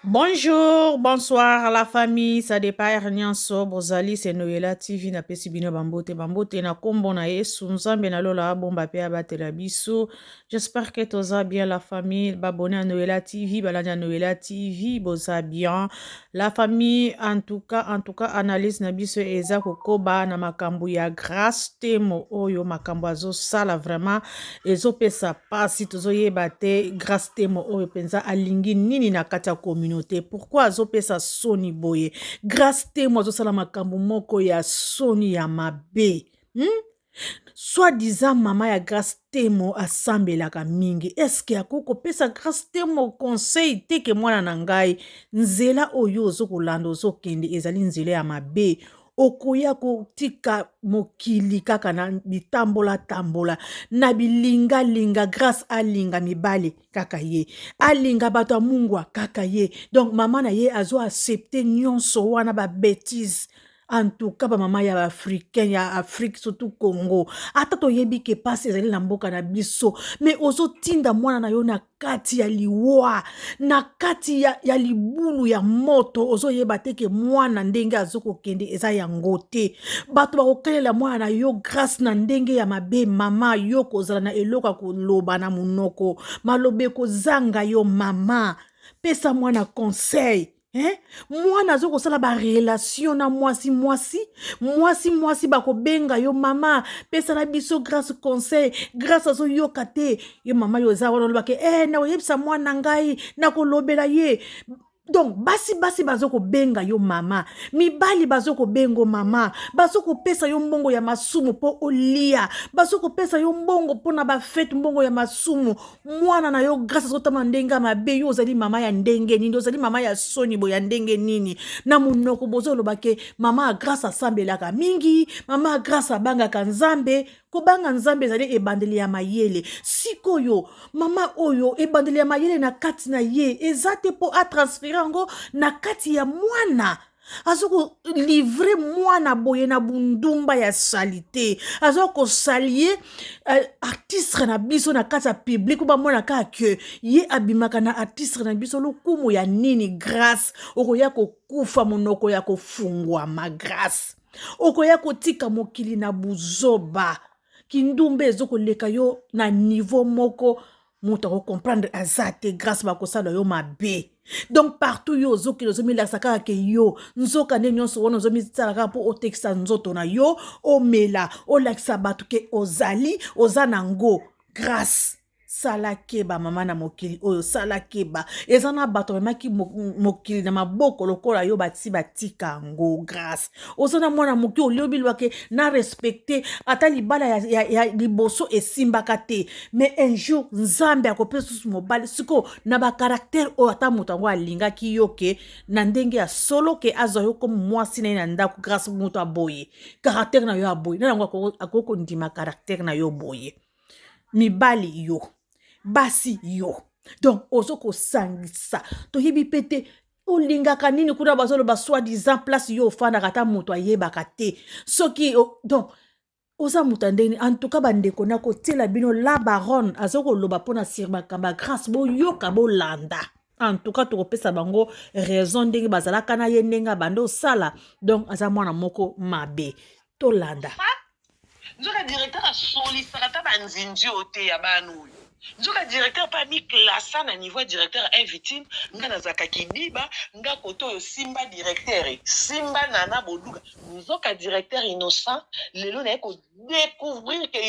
Bonjour, bonsoir à la famille, ça dépend Nyanso, Bozali, c'est Noëlla TV, na pesi bino bambote, bambote na kombo na Yesu, Nzambe na lola bomba pe abatela biso. J'espère que toza bien la famille, babone à Noëlla TV, balanda Noëlla TV, boza bien. La famille en tout cas en tout cas analyse na biso eza kokoba na makambo ya Grace Temo oyo makambo azosala vraiment ezopesa pasi tozoyeba te Grace Temo oyo mpenza alingi nini na kati ya communauté pourquoi azopesa soni boye Grace Temo azosala makambo moko ya soni ya mabe hmm? soit disant mama ya grace temo asambelaka mingi eske akoki kopesa grace temo conseil te ke mwana na ngai nzela oyo ozo kolanda ozokende ezali nzela ya mabe okoya kotika mokili kaka na bitambola tambola na bilinga linga grace alinga mibale kaka ye alinga bato ya mungwa kaka ye donc mama na ye azo accepte nyonso wana ba betise en tout cas bamama ya baafricain ya afrique surtout congo ata toyebi ke mpasi ezali na mboka na biso me ozotinda mwana na yo na kati ya liwa na kati ya, ya libulu ya moto ozoyeba te ke mwana ndenge azokokende eza yango te bato bakokelela mwana na yo grâce na ndenge ya mabe mama yo kozala na eloko ya koloba na monoko maloba ekozanga yo mama pesa mwana conseil eh? mwana aza kosala barelation na mwasi mwasi mwasi mwasi bakobenga yo mama pesala biso grâce conseil grâce azoyoka te yo mama yo eza wana olobaka eh, nakoyebisa mwana ngai nakolobela ye donc basi basi bazo kobenga yo mama mibali bazo kobengo mama bazo kopesa yo mbongo ya masumu mpo olia bazo kopesa yo mbongo mpo na bafete mbongo ya masumu mwana na yo grâce azotama ndenge ya mabe yo ozali mama ya ndenge nini ozali mama ya soni bo ya ndenge nini na monoko bozoloba ke mama ya grâce asambelaka mingi mama ya grâce abangaka nzambe kobanga nzambe ezali ebandeli ya mayele sikoyo mama oyo ebandeli ya mayele na kati na ye eza te mpo atransfere yango na kati ya mwana aza kolivre mwana boye na bundumba ya salite aza kosalie uh, eh, artistre na biso na kati ya publike po bamona kaka ke ye abimaka na artistre na biso lokumu ya nini grace okoya kokufa monoko ya kofungwama grace okoya kotika mokili na buzoba kindumba ezokoleka yo na nivo moko moto akocomprendre aza te grâce bakosala yo mabe donc partout yo ozokende ozomilakisa kaka ke yo nzoka nde nyonso wana ozomisala kaka mpo otekisa nzoto na yo omela olakisa bato ke ozali oza na ngo grâce sala keba mama na mokili oyo sala keba eza na bato bamemaki mokili na maboko lokola yo bati batika yango grâce oza na mwana moke oliobi lwake na respecte ata libala ya, ya, ya liboso esimbaka te mais un jour nzambe akopesa susu mobali sikoyo na bakaraktere oyo ata moto yango alingaki yo ke na ndenge ya solo ke azwa yo komi mwasi na ye na ndako grâce moto aboye karaktere na yo aboye na yango akoki kondima karaktere na yo boye mibali yo basi yo donc ozo kosangisa toyebi mpe te olingaka nini kuna bazoloba soit disant place yo ofandaka ata moto ayebaka te soki donc oza moto ya ndenge en tout cas bandeko nakotiela bino la baronne aza koloba mpona sir makamba grâce boyoka bolanda en tout cas tokopesa bango raison ndenge bazalaka na ye ndenge abanda osala donc aza mwana moko mabe tolanda Nzoka directeur asolisaka ata ba nzinzi oyo te ya bana oyo. Nzoka directeur pe ami classa na niveau ya directeur invite nga nazalaka kidiba nga kote oyo simba directeur et simba nana boduga nzoka directeur innocent lelo naye ko decouvrir que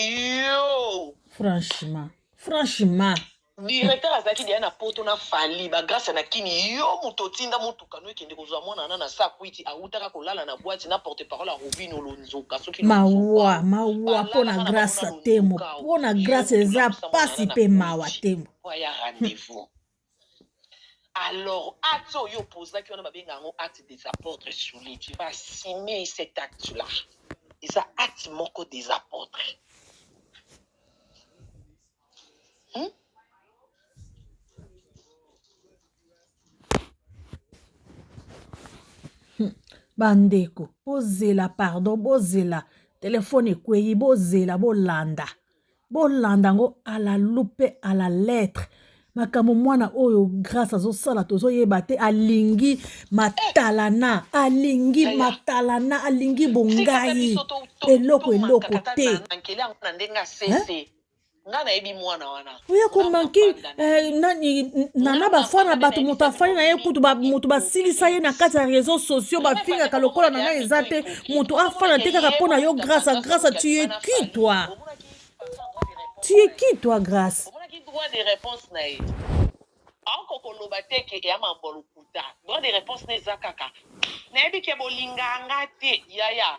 yo Franchement. Franchement. Directeur azalaki dejà na poto na fally ba grace na kin yo mutu otinda mutuka no ekende kozua mwana wana na saa kwiti awutaka kolala na bwati na porte parole ya robino lonzoka soki mawa mawa mpo na grace temo mpo na grace eza pasi mpe mawa temo ya rendez-vous alors acte oyo opozaki wana babenga yango acte des apôtres sur les tu vas assumer cet acte là eza acte moko des apôtres Hein? Hmm. bandeko bozela pardon bozela telefone ekwei bozela bolanda bolanda yango à la loupe à la lettre makambo mwana oyo grâce azosala tozoyeba te alingi matalana alingi Aya. matalana alingi bongai eloko eloko te nga nayebi mwana wana oya komanke eh, nani nana bafwa na bato moto afani na ye kutu moto basilisa ye na kati ya réseau sociaux bafingaka lokola nana eza te moto afana te kaka mpo na yo grâce a grâce a tu es qui toi tu es qui toi grâce droit de réponse na ye aoko koloba te ke eya mambo lokuta droit de réponse na eza kaka nayebi ke bolinganga te yaya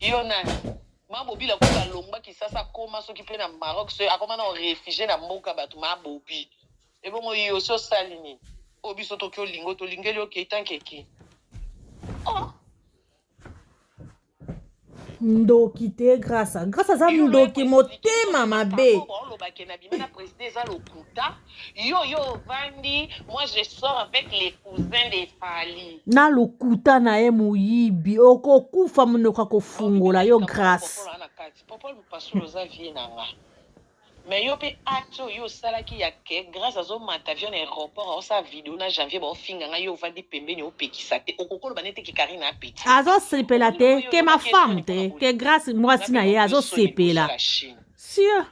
Yo nani? Ma Bobi la kuta longba Kisasa akoma soki pe na Maroc soki akoma na refugie na mboka batu ma Bobi. Ebongo yo so sali nini? Oyo biso toki olingo tolingeli yo Keita Nkeke. Oh. ndoki te grasa grasa aza ndoki motema mabe oloba ke na bima na preside eza lokuta Yo yo ovandi moi je sors avec les cousins de Fally. na lokuta na ye moyibi okokufa monoko akofungola yo grace Popol ana kati. Popol Lupasula oza vie na nga. Mais yo pe acte oyo osalaki ya que Grace azo mata avion na aeroport aosala video na Janvier baofinga nga yo ovandi pembeni opekisa te okoki oloba nete que Carine a petit. azosepela te ke ma femme te ke grace mwasi na ye azosepela sur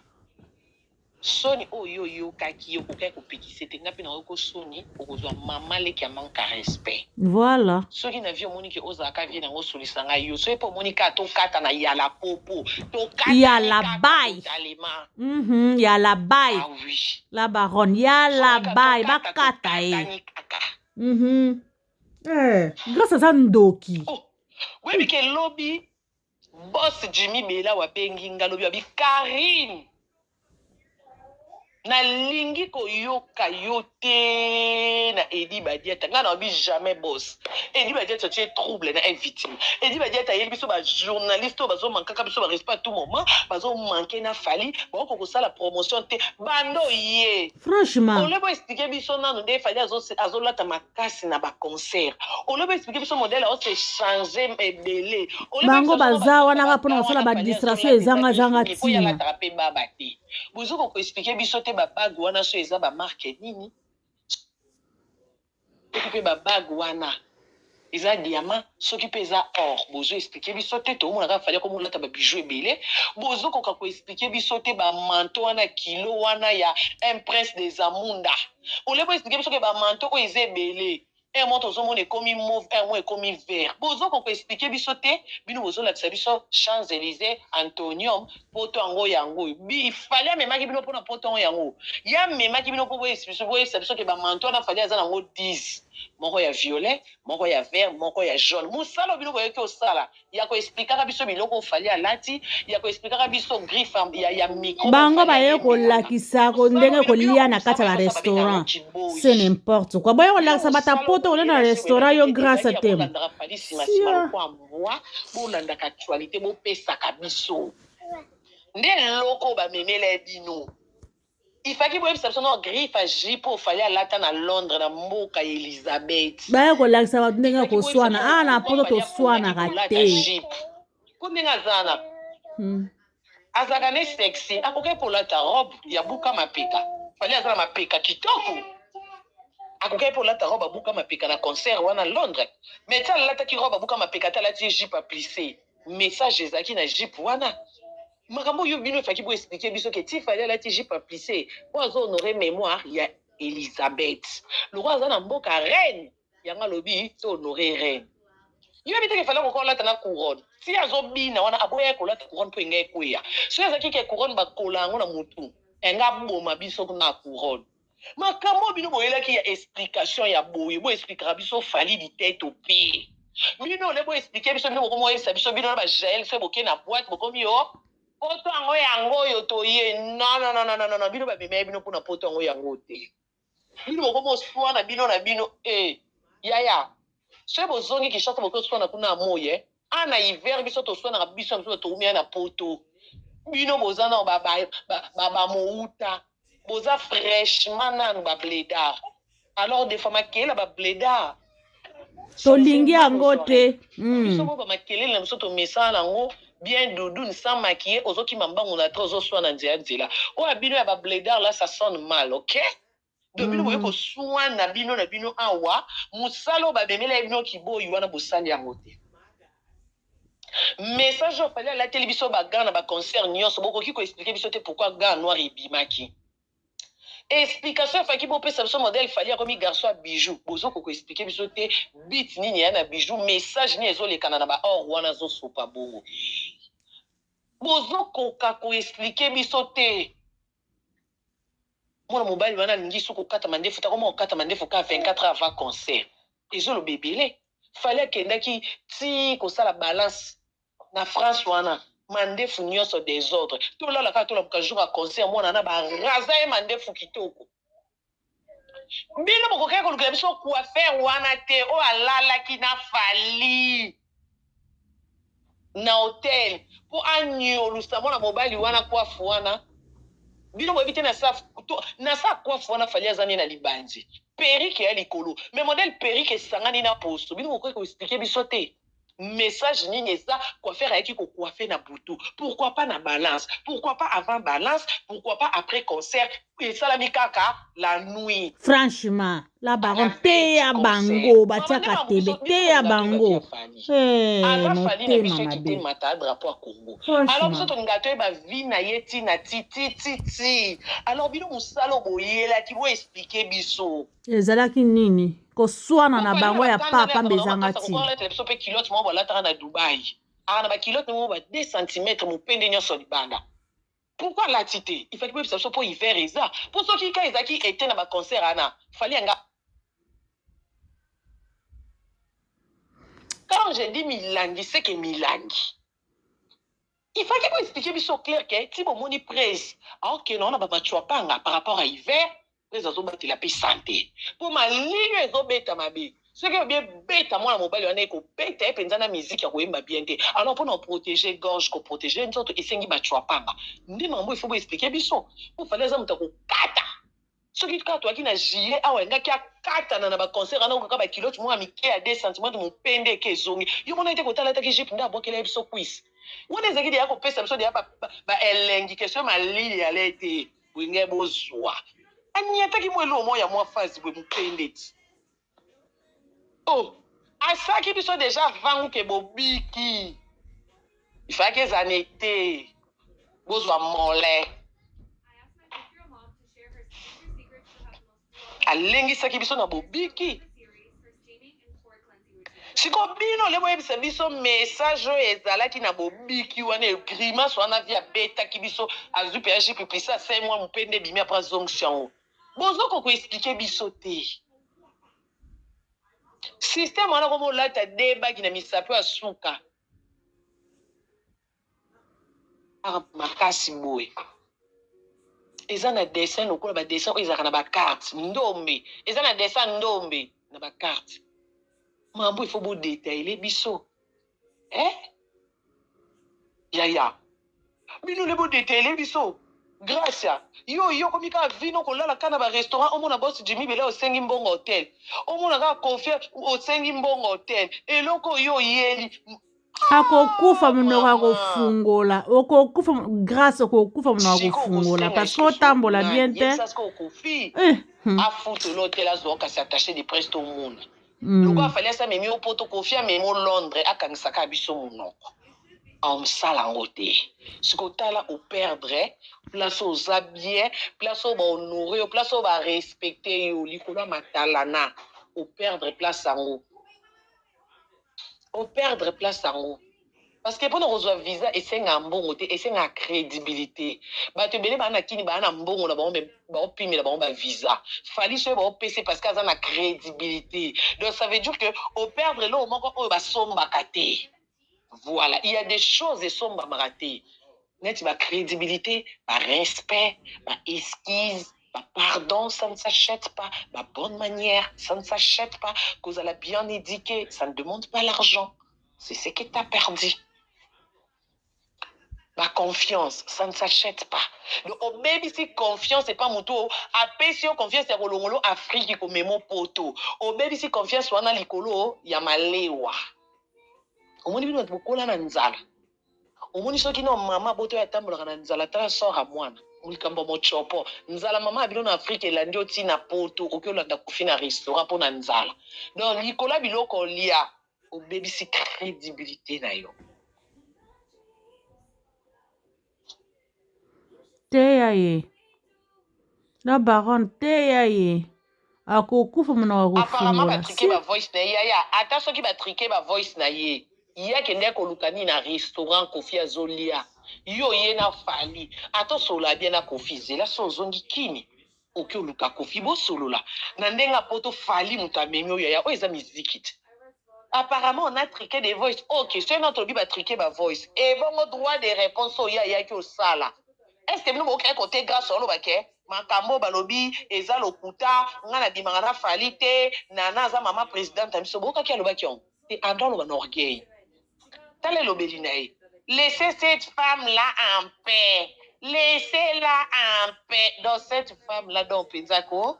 Soni oyo yo oyokaki yo okokaki ko pekise te nga pe nayoki ko soni okozua maman leki ya manque ya respect Voilà. soki na vie omoni ke ozala ka vie na nga osolisa nga yo soki pe omoni ka tokata na ya la popo tokatani Ya la kaka baye. totalema Mhm, ya la baye. ah oui La baronne, ya la Soki ka baye tokata, bakata ye. tokatani kaka Mhm. Eh, Grace aza ndoki. oh oyebi ke lobi Boss Jimmy Bella wa bengi nga lobi abi Carine na lingi ko yoka yo te na Eddy Badiata nga na lobi jamais boss Eddy Badiata tu es trouble na invite Eddy Badiata ayeli biso ba journaliste oyo bazo manquaka biso ba respect à tout moment bazo manquer na Fally ba ko sala promotion te bando ye franchement olebo expliquer biso nanu nde Fally azo azo lata makasi na ba concert olobi explique biso modèle azo se changer ebele bango baza wana kaka mpona kosala ba distraction ezanga zanga tina alataka mpe baba te bozo ko explique biso te ba bague wana so eza ba marque nini soki mpe ba bague wana eza diamant soki mpe eza or bozo explique biso te tomonaka fali akomi kolata ba bijou ebele bozokoka ko explique biso te ba manto wana kilo wana ya un prince des amunda au lieu bo expliquer biso que ba manteaux oyo eza ebele un mois tozo mona ekomi mauve un mois ekomi vert bozo ko ko expliquer biso te bino bozo lakisa biso champs Elysees, Antonium, poto yango yango oyo bi fally amemaki bino pona poto yango yango oyo ye amemaki bino po bo expliquer biso bo yebisa biso que ba manteaux wana fally aza nango 10 moko ya violet moko ya vert moko ya jaune musala oyo bino boyaki kosala ya ko explikaka biso biloko oyo Fally alati, ya ko explikaka biso griffe ya, ya, ya micro. Bango baye kolakisa ko ndenge kolia na kati ya ba restaurant. C'est n'importe quoi. Boye kolakisa bata poto kolia na restaurant yo grâce à temo. Siya. Bolandaka actualité, bopesaka biso. Nde eloko bamemela bino. Il faki boyebisa biso no griffe ya jipo fali alata na Londres na mboka ya Elisabeth. Baya kolakisa bato ndenge ya koswana. Ah na poto toswanaka te. Ko ndenge azana. Hmm. Azalaka ne sexy, akokaki kolata robe ya buka mapeka. Fali aza na mapeka kitoko. Akokaki kolata robe ya buka mapeka na concert wana Londres. Mais ta alataki robe ya buka mapeka ta alati jipe ya plissé. Message ezalaki na jipe wana. Makambo oyo bino faki bo explique biso ke ti fally alati jupe ya plisse po azo honore memoire ya Elisabeth lokola aza na mboka reine yango alobi to honore reine yo oyebi te ke fally akoka olata na couronne ti azo bina wana aboyaki kolata couronne po enga ekweya soki ezalaki ke couronne bakola yango na mutu enga aboma biso na couronne Makambo oyo bino boyelaki ya explication ya boye bo explikaka biso Fally Diteto pe bino ole bo explike biso bino bokomi oyebisa biso bino na ba Jael soki boke na boite bokomi yo poto yango yango oyo toye non non non non non bino ba memeye bino mpona poto yango yango te bino bokomi oswana bino na bino eh yaya soki bozongi Kinshasa boke oswana kuna amoye Ah na hiver biso toswanaka biso na biso bato toumia na poto bino boza nao ba, ba, ba, ba, ba mouta boza fraîchement nanu ba bledard alors des fois makela ba bledard tolingi yango te hmm. biso bo bamakelele na biso tomesana nango bien doudoune sans maquille ozokima mbangu na tre ozoswa na nzela nzela oyo abino ya babledar la ça sonne mal ok Donc bino boye ko suana bino na bino awa musala oyo ba memelaki bino kiboyi wana bosali yango te message oyo fally alateli biso ba gants na ba concert nionso bokoki ko explique biso te pourquoi gants noir ebimaki explication efaki bopesa biso modèle fally akomi garçon ya bijoux bozo ko ko explique biso te but nini eya na bijoux message nini ezo lekana na ba or wana azo sopa bongo bozo koka ko explique biso te Mwana mobali wana alingi soki kokata mandefu te akoma kokata mandefu ka 24 heures avant concert ezoloba ebele fally akendaki ti kosala balance na France wana mandefu nioso desordre tolala kaka tolamuka jour ya concert mwana wana ba raza ye mandefu kitoko Bino bokokaki kolukela biso coiffeur wana te oyo alalaki na Fally na hotel po aniolusa mwana mobali wana coiffe wana bino boyebi te na sa na sa coiffe wana Fally aza nde na libanzi perruque eya likolo mais modèle perruque esangani na poso bino bokokaki ko expliquer biso te? Message nini eza coiffeur ayaki ko coiffer na butu pourquoi pas na balance pourquoi pas avant balance pourquoi pas après concert esalami kaka la nuit. Franchement la baronne teya bango batiaka tebe teya bango eh, motema mabe mata drapeau ya Congo alors biso tolinga toyeba vie na ye ti na ti ti ti ti alors bino mosala boyelaki bo expliquer biso ezalaki nini koswana na bango ya papa mbe ezanga ntina biso mpe kilote moko balataka na dubai aa na bakilote moko ba 2 centimetre mopende nyonso libanda pourkui alati te ifaki boyebisa biso mpo hiver eza mpo soki ka ezalaki ete na baconcert ana fali yanga quand je dis milangi seke milangi ifaki boexplike biso clair ke ti bomoni prese aokende wana babacuapanga par rapport ya hiver Blaise azo batela pe sante po malili ezo beta mabe soki elobi ebeta mwana mobali wana eko beta ye penza na musique ako yemba bien te alors pona ko proteger gorge ko proteger nzoto esengi ba tshuapanga nde makambo oyo il faut bo expliquer biso po Fally aza moto ya ko kata soki kaka toyaki na juillet awa alingaki akatana na ba concert wana kaka ba culotte moko ya mike ya 2 cm mupende eke ezongi yo omonaki te kota alataki jupe nde abwakela ye biso cuisse wana ezalaki deja kopesa biso deja ba ba ba elengi question malili alete Wenge bozua aniataki mua eloko moko ya mua face boye muke ndeti oh asaki biso deja vangu ke bobiki ifaki eza na ete bozua mole Alengisaki biso na bobiki. Sikoyo bino le boyebisa biso message oyo ezalaki na bobiki wana e grimace wana vie abetaki biso azwi pe aji pipisa sai mwa mope nde ebimi apres azongisi yango bozo ko ko explique biso te systeme wana komo olata de bagi na misapi ya suka Carte makasi boye eza na dessin lokola ba dessin oyo ezalaka na ba carte ndombe eza na dessin ndombe na ba carte mambu il faut bo detailler biso eh yaya bino nde bo detailler biso Gracia yo yo komi kaka vino kolala kaka na ba restaurant omona boss Jimmy bela osengi mbongo hotel omona kaka confiance osengi mbongo hotel eloko yo oyeli akokufa monoko ya kofungola okokufa grâce okokufa monoko ya kofungola parce que otambola bien te eh, hmm. afutula otela azwa kasi attache de presse tomona hmm. loko afali asi amemi yo poto kofi amemi o londre akangisaka biso monoko aomosala yango te sikoyo tala operdre place oza bien place oyo bahonore yo place oyo barespecte yo likolo ya matalana operdre place yango o perdre place yango parce que pona kozua visa esengaka mbongo te esengaka credibilite batu ebele baya na kin baya na mbongo na bango mais bao pimela bango ba visa Fally soki bao pesa ye parce que aza na credibilite donc ça veut dire que o perdre eloko moko oyo basombaka te. Voilà il ya des choses esombamaka te neti ba credibilite, ba respect, ba esquise, ba pardon ça ne s'achète pas, ba bonne manière ça ne s'achète pas, kozala bien eduque ça ne demande pas l'argent c'est ce que t'as perdu ba confiance ça ne s'achète pas donc obebisi confiance epa motu oyo apesi yo confiance ya kolongolo afriki komemo poto obebisi confiance wana likolo ya malewa omoni bino bato bokola na nzala omoni soki no mama boto atambolaka na nzala tala sora mwana likambo ya mocopo nzala mama ya bino na afrika elandi oti na poto oki olanda kofi na restaurant mpo na nzala donc likolo ya biloko olia obebisi credibilité na yo Teya ye la baronne teya ye akokufa monoko akofungola ata soki ba trike ba voice na ye ye akende koluka nini na restaurant koffi azolia yo oye na fally ata osolola bien na koffi zela soki ozongi kin. Oke oluka koffi bosolola na ndenge ya poto fally mutu amemi oyo yaya oyo eza miziki te apparemment on a trique des voice ok soki nao tolobi ba trique ba voice ebongo droit de reponse oyo ye ayaki osala est ce que bino bokokaki kote grace oloba ke makambu oyo balobi eza lokuta nga na bimaka na fally te nana aza maman presidente na biso bokaki alobaki yango te androit aloba na orgueil. Tala elobeli na ye. Laissez cette femme là en paix. Laissez la en paix. Donc cette femme là donc penza ko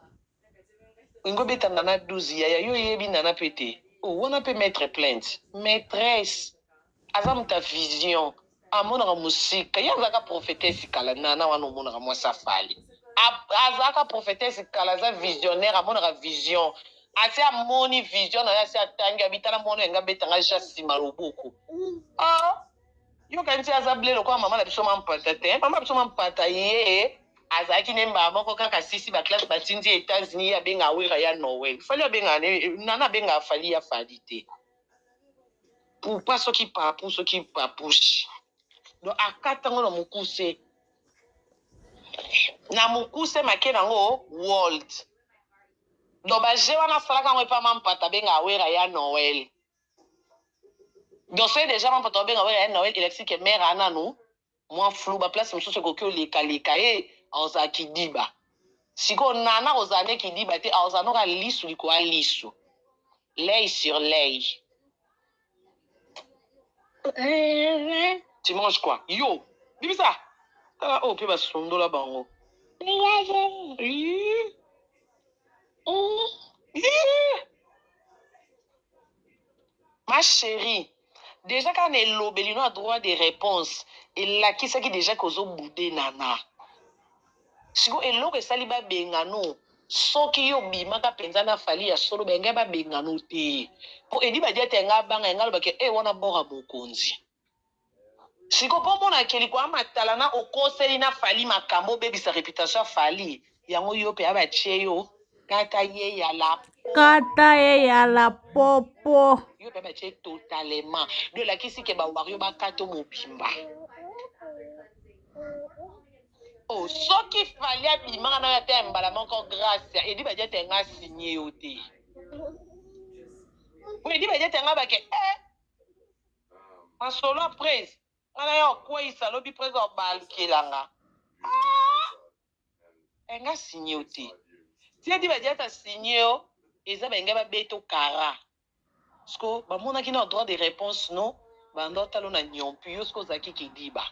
olingo beta nana 12 yaya yo oyebi nana pe te oh wana pe mettre plainte maitresse aza muta vision Amonaka musika ye azalaka prophetesse kala nana wana omonaka mwasi ya fally azalaka prophetesse kala aza visionnaire amonaka vision asi amoni vision naye asi atangi abi tala mwana oyo alingi abeta nga ja sima loboko oh yo kanisi ye aza ble lokola mama na biso mampata te mama biso mampata ye azalaki ne mbala moko kaka sisi ba classe batindi ye etats unis ye abengaka wera ya noel fali abengaka nana abengaka fali ya fali te pupa soki papu soki papushi do akata yango na mokuse na mokuse make na yango world do baje wana asalaka yango epa mampata abenga awera ya noel do soki deja mampata obenga awera ya noel elakisi ke mare ananu Mua flou ba place mususu ekoki oleka leka ye aoza kidiba sikoyo nana akozala nde kidiba te aoza noka lisu likoya lisu l'oeil sur l'oeil tu manges quoi yo bimisa tala oyo pe basundola bango Ma cherie dejà kaka na elobeli no ya droit de reponse elakisaki dejà que ozo boude Nana sikoyo eloko esali ba benga no soki yo obimaka penza na Fally ya solo ba engai ba benga no te po Eddy Badiata engai abanga engai aloba ke eh wana bord ya mokonzi. Sikoyo po omona ke likwaa matala na okoseli na fally makambu obebisa reputation ya fally yango yope aba tie yo kata ye ya la po kata ye ya la po po yope aba tie totalement donc elakisi ke ba wario ba kato mobimba oh soki fally abimaka nayo ata ya mbala moko gracia edi badia te nga signe yo te po edi badia te nga bake eh Masolo ya prez nga na yo akueyisa lobi prez abalukela nga aah eh nga signe yo te tia diba diata asigne yo eza balingai ba beto kara siko ba monaki nao droit de reponse no banda otala yo na niompu yo siko ozalaki ke diba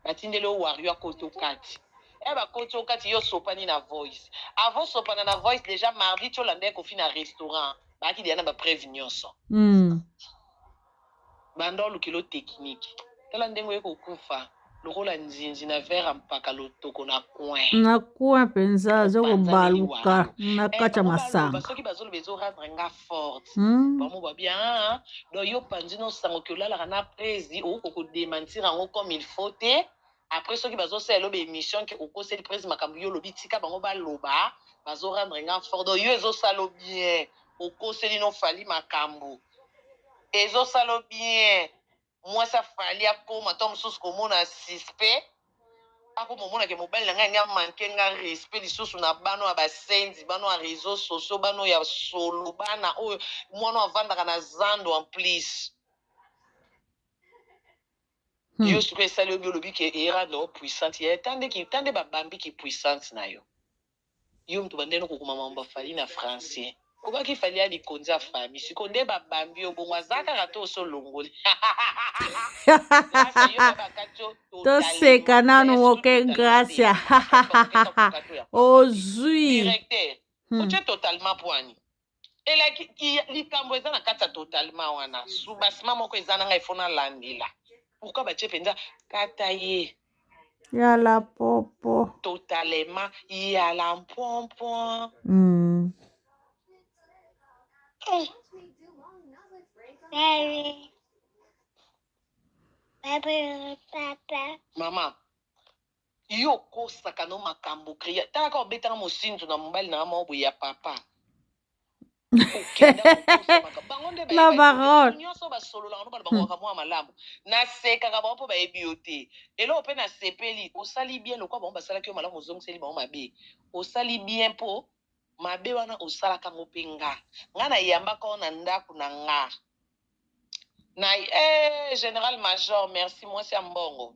batindeli yo wario akoti okati eh bakoti okati yo osopani na voice avant osopana na voice deja mardi ti olandaki kofi na restaurant baaki deja na ba preve nionso Hum. Banda oluki lo technique tala ndenge oye kokufa lokola nzinzi na verre ya mpaka lotoko na coin. na coin penza azo kobaluka na eh, kati ya masanga soki bazoloba ezo rendre nga forte hmm? bamo ba bien ah, ah. do yo panzi no sango ki olalaka na prezi oko ko dementir yango comme il faut te après soki bazosala eloba émission ke okoseli prezi makambo yo olobi tika bango baloba bazo rendre nga forte do yo ezosala bien okoseli no fali makambo Ezo sala yo bien mwasi ya Fally akoma tango mosusu komona suspect akoma omona ke mobali na ngai alingi a manquer ngai respect lisusu na bana oyo ya ba senzi bana oyo ya reseaux sociaux bana oyo ya solo bana oyo mwana oyo avandaka na zando en plus Hmm. yo sikoyo esali yo bien olobi ke Erra no puissante ya ta nde ki ta nde ba bambi ki puissante na yo Yo mutu obanda naino kokoma makambo ya Fally na français. Okobaki Fally ya likonzi ya famille sikoyo nde ba bambi yo bongo aza kaka to osi olongoli Gracia yo pe bakati yo toseka nanu moke gracia ozui directeur otie totalement poani elaki likambo eza na kati ya totalement wana subasima moko eza na ngai fo nalandela pourkui batie mpenza kata ye ya la popo totalement ya la mpompon mm. mm. Mama, Yo okosaka no makambu cria tala kaka obetaka mosinzo na mobali nanga moko boye ya papa okenda kokosa makambo bango nde La bayebi baronne. nyonso basololaka no bana bakokaka mwa malamu nasekaka bango mpo bayebi yo te eloko mpe nasepeli osali bien lokola bango basalaki yo malamu ozongiseli bango mabe osali bien mpo mabe wana osalaka yango mpe nga nga nayambaka yo na ndako na nga Na eeh general major merci mwasi ya mbongo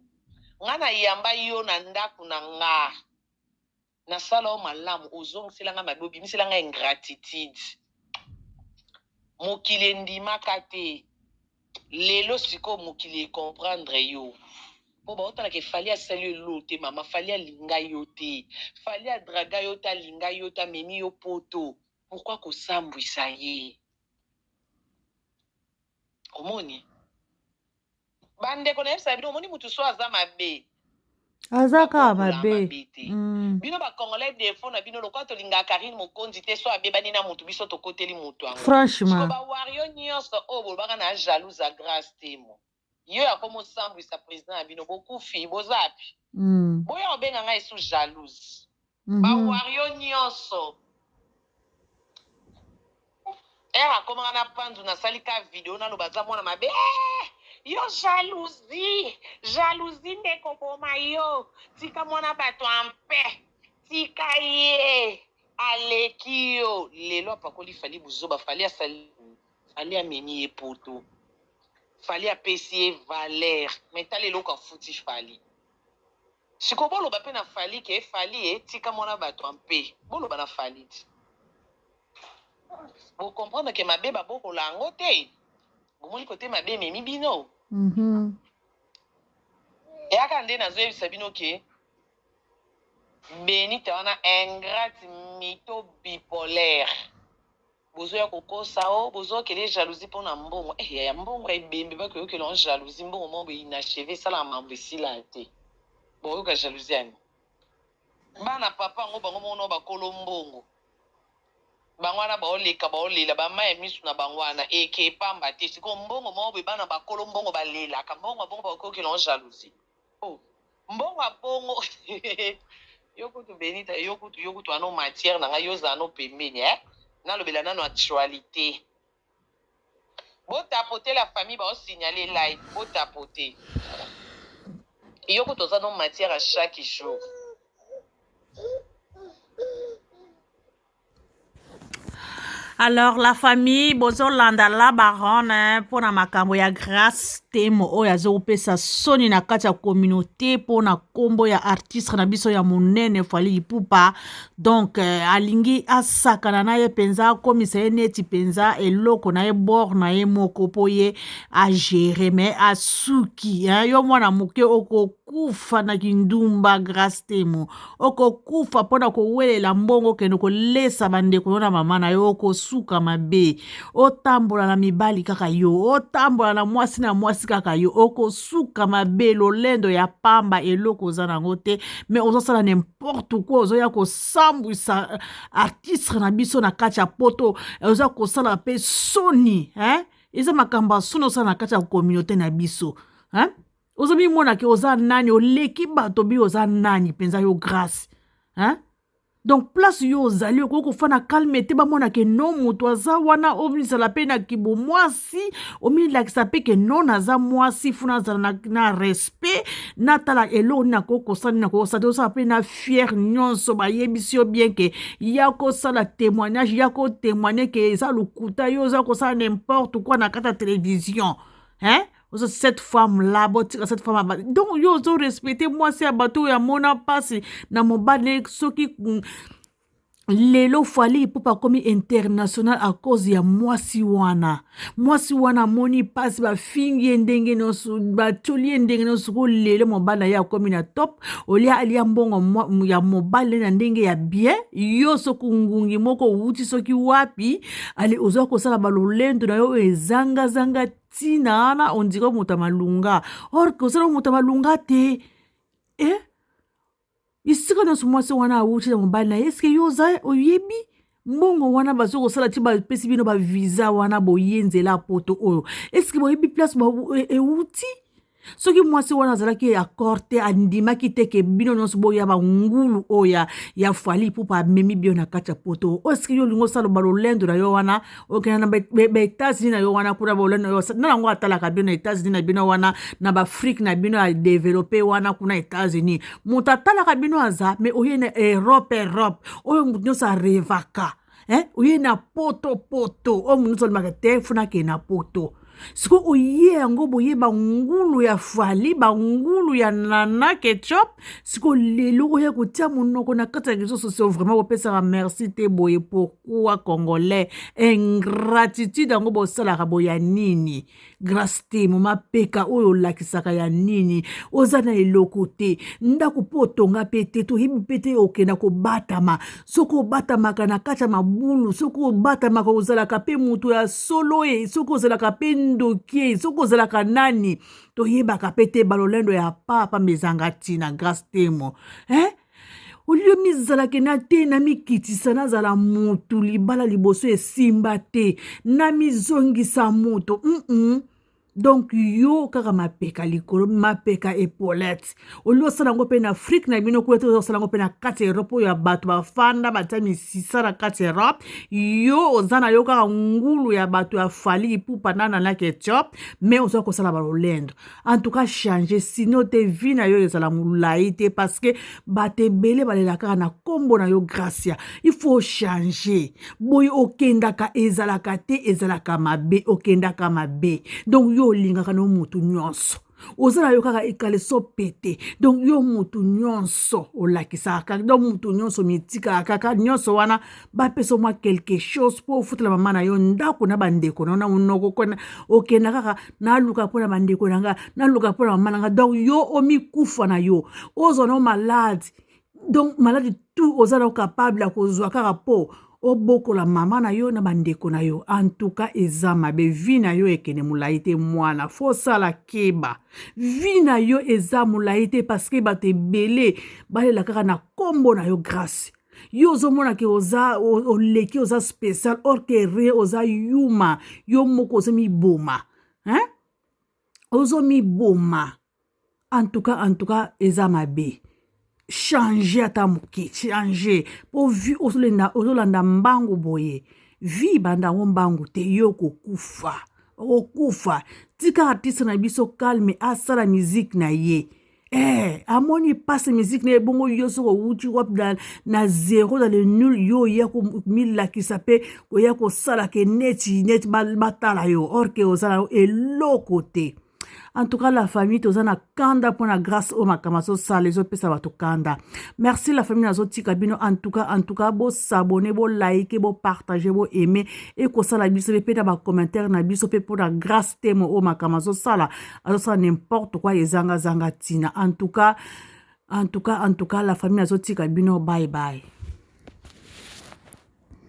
nga na yamba yo na ndaku na nga na sala yo malamu ozongisela nga mabe obimisela nga ingratitude mokili endimaka te lelo sikoyo mokili e comprendre yo po baotala ke fali asali elo te mama fali alinga yo te fali adraga yo te alinga yo te amemi yo poto pourquoi kosambwisa ye omoni bandeko nayebisaka bino omoni motu so aza mabe aza kaka mabe mm. bino bacongolais defo na bino lokola tolingaka karine mokonzi te so abebani na motu biso tokoteli motu yango franchement bawario nyonso oyo bolobaka na jalouse ya grace temo yo ya komo sambwisa president na bino bokufi bozapi mm. boya kobenga ngai su jalouse mm -hmm. bawario nyonso ere akomaka na panzu nasali ka video naloba aza mwana mabe eh, yo jalousie jalousie nde koboma yo tika mwana bato ampe tika ye aleki yo lelo apakoli fali buzoba fali asali Fally amemi ye poto Fally apesi ye valeur mais tala eloko afuti Fally siko boloba pe na Fally ke Fally e tika muana batu en paix boloba na Fally ti bo comprendre ke mabe ba bokola yango te bomoni kote mabe ememi bino mm -hmm. yaka nde nazoyebisa bino ke benita wana ingrate mito bipolaire Bozo ya ko kosa oh bozo kele jalousie pona mbongo eh yaya mbongo ya ebembe ba koyokela on jalousie mbongo moko boye inacheve esalaka makambo esila te bokoyoka jalousie yani bana papa yango bango moko nao bakolo mbongo bango wana baoleka baolela bama ya misu na bango wana eke epamba te sikoyo mbongo moko boye bana bakolo mbongo balelaka mbongo ya bongo bakoyokela on jalousie Oh mbongo ya bongo yo kutu Benita yo kutu yo kutu wana o matière na ngai yo ozala no pembeni eh nalobela nano actualité botapote la famille baosignale live botapote yo kutu oza no matière à chaque jour alors la famille bozolanda la baronne mpo na makambo ya grace temo oyo azopesa soni na kati ya communauté mpo na nkombo ya artiste na biso ya monene fali ipupa donc euh, alingi asakana na ye mpenza akomisa ye neti mpenza eloko na ye bor na ye moko mpo ye agere mais asuki hein? yo mwana moke oko okokufa na kindumba grace temo okokufa mpo na kowelela mbongo okende kolesa bandeko yo na mama na yo okosuka mabe otambola na mibali kaka yo otambola na mwasi na mwasi kaka yo okosuka mabe lolendo ya pamba eloko oza na yango te me ozosala nimporte kua ozoya kosambwisa euh, artistre na biso na kati ya poto oza kosala mpe soni hein? eza makambo ya soni osala na kati ya communauté na biso hein? ozomimona ke oza nani oleki bato bi oza nani mpenza yo grace hein? donc place yo ozali okoki kofana calme te bamona ke no moto aza wana omizala mpe na kibomwasi omilakisa mpe ke no naza mwasi funa azala na, na respect natala eloko nini akoki kosala nini akoki kosala te osala mpe na fiere nyonso bayebisi yo bien ke ya kosala témoignage ya kotémoigne ke eza lokuta yo oza kosala n'importe quoi na kati ya télévision hein ozo cette femme là botika cette femme abali donc yo ozo respecte mwasi ya bato oyo amona mpasi na mobali soki mm, lelo fali ipupa akomi international à cause ya mwasi wana mwasi wana amoni mpasi bafingi ye ndenge nyonso batioli ye ndenge nyonso ko lelo mobali na ye akomi na top olia alia mbongo ya mobali na ndenge ya bien yo soki ngungi moko owuti soki wapi ale ozwa kosala balolendo na yo oyo ezangazanga tina wana on dirait moto ya malonga or que ozala moto ya malonga te eh? bisika nyonso mwasi wana awuti na mobali na ye eske yo oza oyebi mbongo wana bazo kosala ti bapesi bino bavisa wana boye nzela poto oyo eske boyebi place euti e, e soki mwasi wana azalaki accord te andimaki te ke bino nyonso boya bangulu oyo ya, ya fali pupa amemi bio na kati ya poto oyo soki yo olingi osala balolendo na yo wana okenda na baetats-unis na yo wana kuna balolendo na yo na yango atalaka bino na etats-unis na bino wana na baafrike na bino ya developpe wana kuna etats-unis moto atalaka bino aza me oye na europe europe oyo moto nyonso arevaka eh? oye na poto poto oyo monusu alobaka te funa akee na poto sikoy oye yango boye bangulu ya fali bangulu ya nana ketchup sikoy lelo oya kotia monoko na kati ya réseau sociaux vraiment bopesaka merci te boye pourquoi congolais ingratitude yango bosalaka boya nini grace te moma peka oyo olakisaka ya nini oza na eloko te ndako mpo otonga mpe te toyebi mpe te okenda kobatama soki obatamaka na kati ya mabulu soki obatamaka ozalaka mpe moto ya solo e soki ozalaka mpe ndoki e soki ozalaka nani toyebaka mpe te balolendo ya papa mezanga ntina grace temo eh? olio mizalake na te namikitisa nazala motu libala liboso esimba te namizongisa moto mm -mm. donk yo kaka mapeka likolo mapeka epolete olingi osala yango mpe na afrike na bino kuna te oza kosala yango mpe na kati ya erope oyo ya bato bafanda batya misisa na kati ya erope yo oza na yo kaka ngulu ya bato ya fali ipupa na nanak etiope mai oza kosala balolendo en tout cas change sino te vie na yo ezala molai te parce que bato ebele balela kaka na nkombo na yo gracia il faut changer boye okendaka ezalaka te ezalaka mabe okendaka mabe donc yo olingaka na yo motu nyonso oza na yo kaka ekaleso pete donc yo motu nyonso olakisaka kaka donc motu nyonso mitikaka kaka nyonso wana bapesa mwa quelque chose mpo ofutela mama na yo ndako na bandeko na yo na monoko okenda kaka naluka mpo na bandeko na nga naluka mpo na mama na nga donc yo omikufa na yo ozwa na yo malade donc malade tout oza na yo capable ya kozwa kaka mpo obokola mama na yo na bandeko na yo antuka eza mabe vi na yo ekende molai te mwana fosala keba vi na yo eza molai te paske bato ebele balela kaka na nkombo na yo grâce yo ozomona ke oza oleki oza special or ke re oza yuma yo moko ozomiboma hein? ozomiboma en tout cas en tout cas eza mabe change ata moke change mpo vi ozolanda mbangu boye vi banda yango mbangu te yo okokufa okokufa tika artiste na biso calme asala miziki na ye Eh, amoni pasi miziki na ye bongo yo soki owuti wapi na, na zero na le nul yo oya komilakisa mpe koya kosala ke neti neti batala yo orke oza na eloko te en tout cas la famille toza na kanda mpo na grâce oyo makambo azosala ezopesa bato kanda merci la famille nazotika bino en tout cas en tout cas bosabone bolaike bopartage boaime ekosala biso mpe mpe na bacommentaire na biso mpe mpo na grâce temo oyo makambo azosala azosala n'importe quoi ezanga zanga tina en tout cas en tout cas en tout cas la famille azotika bino bye bye